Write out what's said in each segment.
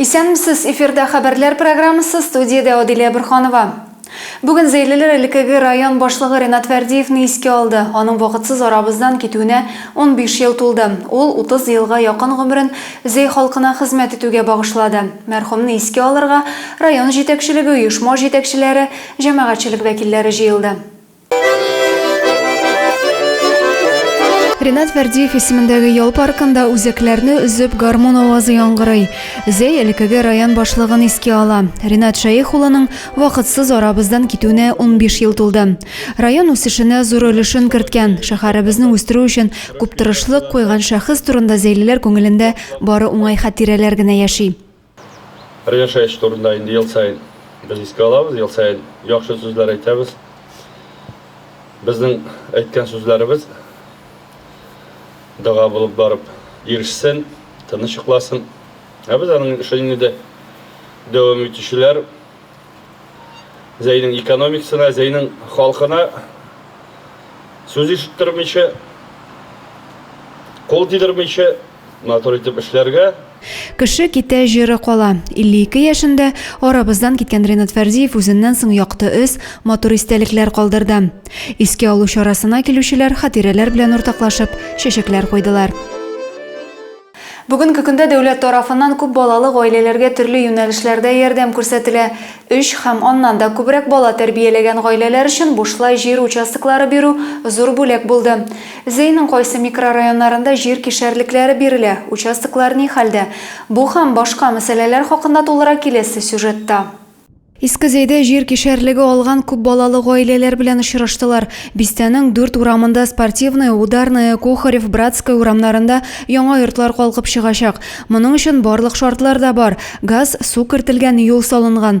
Исәнмесез, эфирда хәбәрләр программасы, студиядә Адилә Борханова. Бүген зәйлеләр элеккеге район башлыгы Ренат Фәрдиевне искә алды. Аның вакытсыз арабыздан китүенә унбиш ел тулды. Ул утыз елга якын гомерен Зәй халкына хезмәт итүгә багышлады. Мәрхүмне искә алырга район җитәкчелеге, оешма җитәкчеләре, җәмәгатьчелек вәкилләре җыелды. Ренат Вәрдиев исемендәге ял паркында үзәкләрне үзеп гармун авазы яңгырый. Зәй элекеге район башлыгын искә ала. Ренат Шәех улының вакытсыз арабыздан китүенә 15 ел тулды. Район үсешенә зур өлешен керткән, шәһәребезне үстерү өчен күп тырышлык куйган шәхес турында зәйлеләр күңелендә бары уңай хатирәләр генә яши. Бер яшәеш турында инде ел саен без искә алабыз, ел саен яхшы сүзләр әйтәбез. Безнең әйткән сүзләребез дога булып барып ирешсен, тыныч йокласын. Ә без аның эшен инде дәвам итүчеләр Зәйнең экономикасына, Зәйнең халкына сүз ишеттермичә, кул тидермичә, Матур итеп эшләргә. Кеше китә, җыры кала. 52 яшендә арабыздан киткән Ренат Фәрзиев үзеннән соң якты эз, матур истәлекләр калдырды. Искә алу чарасына килүчеләр хатирәләр белән уртаклашып, чәчәкләр куйдылар. Бүгенге көндә дәүләт тарафыннан күп балалы гаиләләргә төрле юнәлешләрдә ярдәм күрсәтелә. Өч һәм аннан да күбрәк бала тәрбияләгән гаиләләр өчен бушлай җир участоклары бирү зур бүләк булды. Зеиның кайсы микрорайоннарында җир кишәрлекләре бирелә, участоклар ни хәлдә? Бу һәм башка мәсьәләләр хакында тулырак киләсе сюжетта. Иске Зейдә җир кишәрлеге алган күп балалы гаиләләр белән очраштылар. Бистәнең дүрт урамында, Спортивная, Ударная, Кухарев, Братская урамнарында яңа йортлар калкып чыгачак. Моның өчен барлык шартлар да бар, газ, су кертелгән, юл салынган.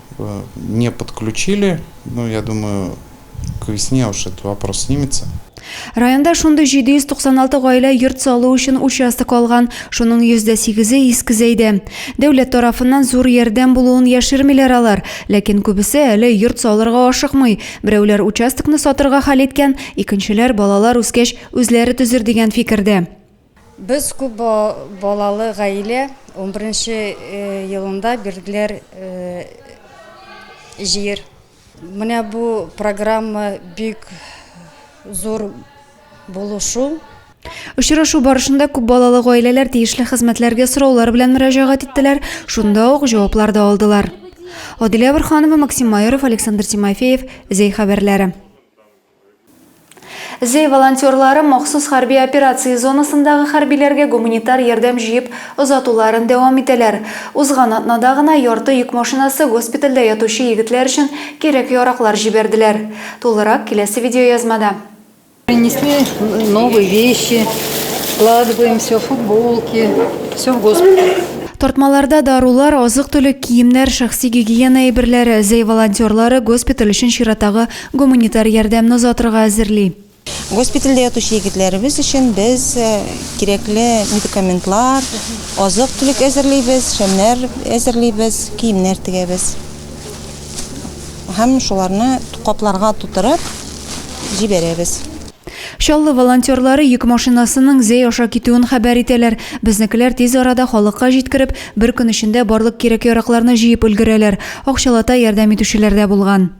Э, не подключили, ну, я думаю, к весне уж этот вопрос снимется. Районда шундый 796 гаилә йорт салу өчен участок алган. Шуның 108-е иске зәйдә. Дәүләт тарафыннан зур ярдәм булуын яшермиләр алар, ләкин күбесе әле йорт салырга ашыкмый. Берәүләр участокны сатырга хәл иткән, икенчеләр балалар үскәч үзләре төзер дигән фикердә. Без күп балалы гаилә, унберенче елында бирделәр җир. Менә бу программа бик зур булу шул. Очрашу барышында күп балалы гаиләләр тиешле хезмәтләргә сораулар белән мөрәҗәгать иттеләр, шунда ук җаваплар да алдылар. Адилә Борһанова, Максим Майоров, Александр Тимофеев, Зәй хәбәрләре. Зөй волонтерлары махсус хәрби операция зонасындагы хәрбиләргә гуманитар ярдәм җыеп озатуларын дәвам итәләр. Узган атнада гына ярты йөк машинасы госпитальдә ятучы егетләр өчен кирәк-яраклар җибәрделәр. Тулырак киләсе видеоязмада. Принесли новые вещи, складываем все, футболки, все в госпиталь. Тартмаларда дарулар, азык-төлек, киемнәр, шәхси гигиена әйберләре. Зөй волонтерлары госпиталь өчен чираттагы Гуманитар ярдәмне озатырга әзерли. Госпитальдә ятучы егетләребез өчен без кирәкле медикаментлар, азык-төлек әзерлибез, шәмнәр әзерлибез, киемнәр тегәбез. Һәм шуларны капларга тутырып җибәрәбез. Чаллы волонтерлары йөк машинасының Зәй аша китүен хәбәр итәләр. Безнекеләр тиз арада халыкка җиткереп, бер көн эчендә барлык кирәк-яракларны җыеп өлгерәләр. Акчалата ярдәм итүчеләр дә булган.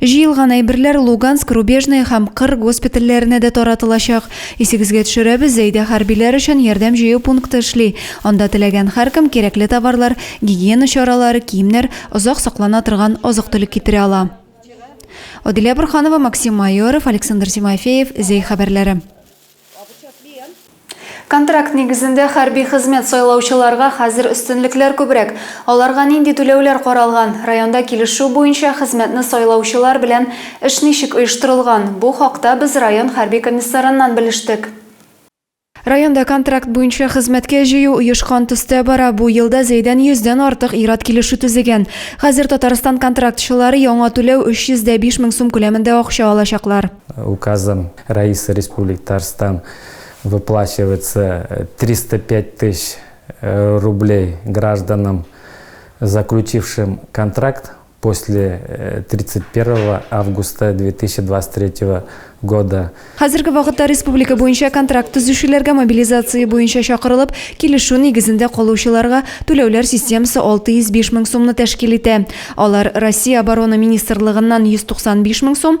Җыелган әйберләр Луганск, Рубежное һәм Кыр госпитальләренә дә таратылачак. Исегезгә төшерәбез, Зәйдә хәрбиләр өчен ярдәм җыю пункты эшли. Анда теләгән һәркем кирәкле товарлар, гигиена чаралары, киемнәр, озак саклана торган азык-төлек китерә ала. Адилә Борханова, Максим Майоров, Александр Тимофеев, Зәй хәбәрләре. Контракт нигезендә хәрби хезмәт сайлаучыларга хәзер өстенлекләр күбрәк. Аларга нинди түләүләр каралган? Районда килешү буенча хезмәтне сайлаучылар белән эш ничек оештырылган? Бу хакта без район хәрби комиссарыннан белештек. Районда контракт буенча хезмәткә җыю оешкан төстә бара. Бу елда Зәйдән 100 дән артык ир-ат килешү төзегән. Хәзер Татарстан контрактчылары яңа түләү 305 мең сум күләмендә акча алачаклар. Указом Раисы Республики Татарстан выплачивается 305 тыщ рублей гражданам, заключившим контракт после 31 августа 2023 года. Хәзерге вакытта республика буенча контракт төзүчеләргә мобилизация буенча чакырылып, килешү нигезендә калучыларга түләүләр системасы 605 мең сумны тәшкил итә. Алар Россия Оборона министрлыгыннан 195 мең сум,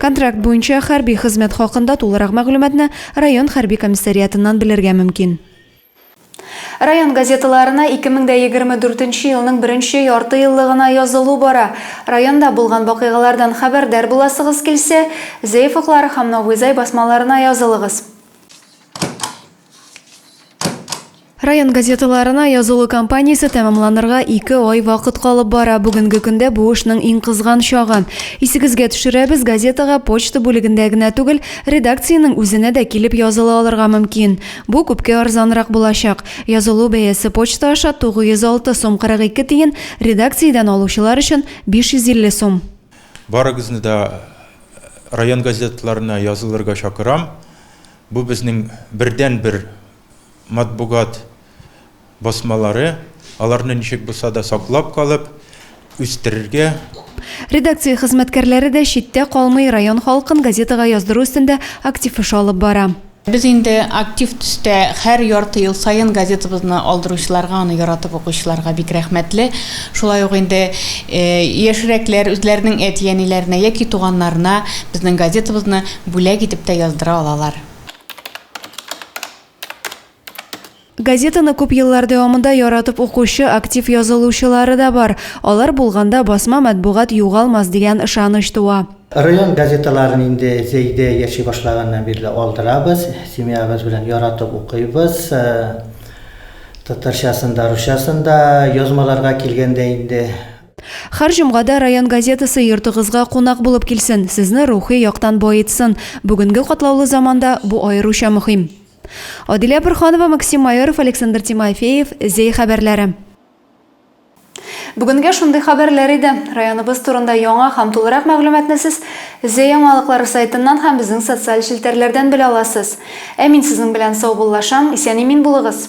Контракт буенча хәрби хезмәт хакында тулырак мәгълүматны район хәрби комиссариатыннан белергә мөмкин. Район газеталарына 2024 нче елның беренче яртыеллыгына язылу бара. Районда булган вакыйгалардан хәбәрдар буласыгыз килсә, Зәеф уклары һәм Новый Зай басмаларына язылыгыз. Район газеталарына язылу кампаниясе тәмамланырга ике ай вакыт калып бара. Бүгенге көндә бу эшнең иң кызган чагы. Исегезгә төшерәбез, газетага почта бүлегендә генә түгел, редакциянең үзенә дә килеп языла алырга мөмкин. Бу күпкә арзанрак булачак. Язылу бәясе почта аша 906 сум 42 тиен, редакциядән алучылар өчен 550 сум. Барыгызны да район газеталарына язылырга чакырам. Бу безнең бердәнбер матбугат басмалары, аларны ничек булса да саклап калып, үстерергә. Редакция хезмәткәрләре дә читтә калмый, район халкын газетага яздыру өстендә актив эш алып бара. Без инде актив төстә һәр ярты ел саен газетабызны алдыручыларга, аны яратып укучыларга бик рәхмәтле. Шулай ук инде яшьрәкләр үзләренең әти-әниләренә яки туганнарына безнең газетабызны бүләк итеп тә яздыра алалар. Газетаны күп еллар дәвамында яратып укучы актив язылучылары да бар. Алар булганда басма матбугат югалмас дигән ышаныч туа. Район газеталарын инде Зәйдә яши башлаганнан бирле алдырабыз, семьябыз белән яратып укыйбыз. Татарчасын да, русчасын да, язмаларга килгәндә инде. Хәр җомга да район газетасы йортыгызга кунак булып килсен, сезне рухи яктан баетсын, бүгенге катлаулы заманда бу аеруча мөхим. Адилә Борһанова, Максим Майоров, Александр Тимофеев, Зәй хәбәрләре. Бүгенгә шундый хәбәрләр иде. Районыбыз турында яңа һәм тулырак мәгълүматны сез Зәй яңалыклары сайтыннан һәм безнең социаль челтәрләрдән белә аласыз. Ә мин сезнең белән саубуллашам, исән-имин булыгыз!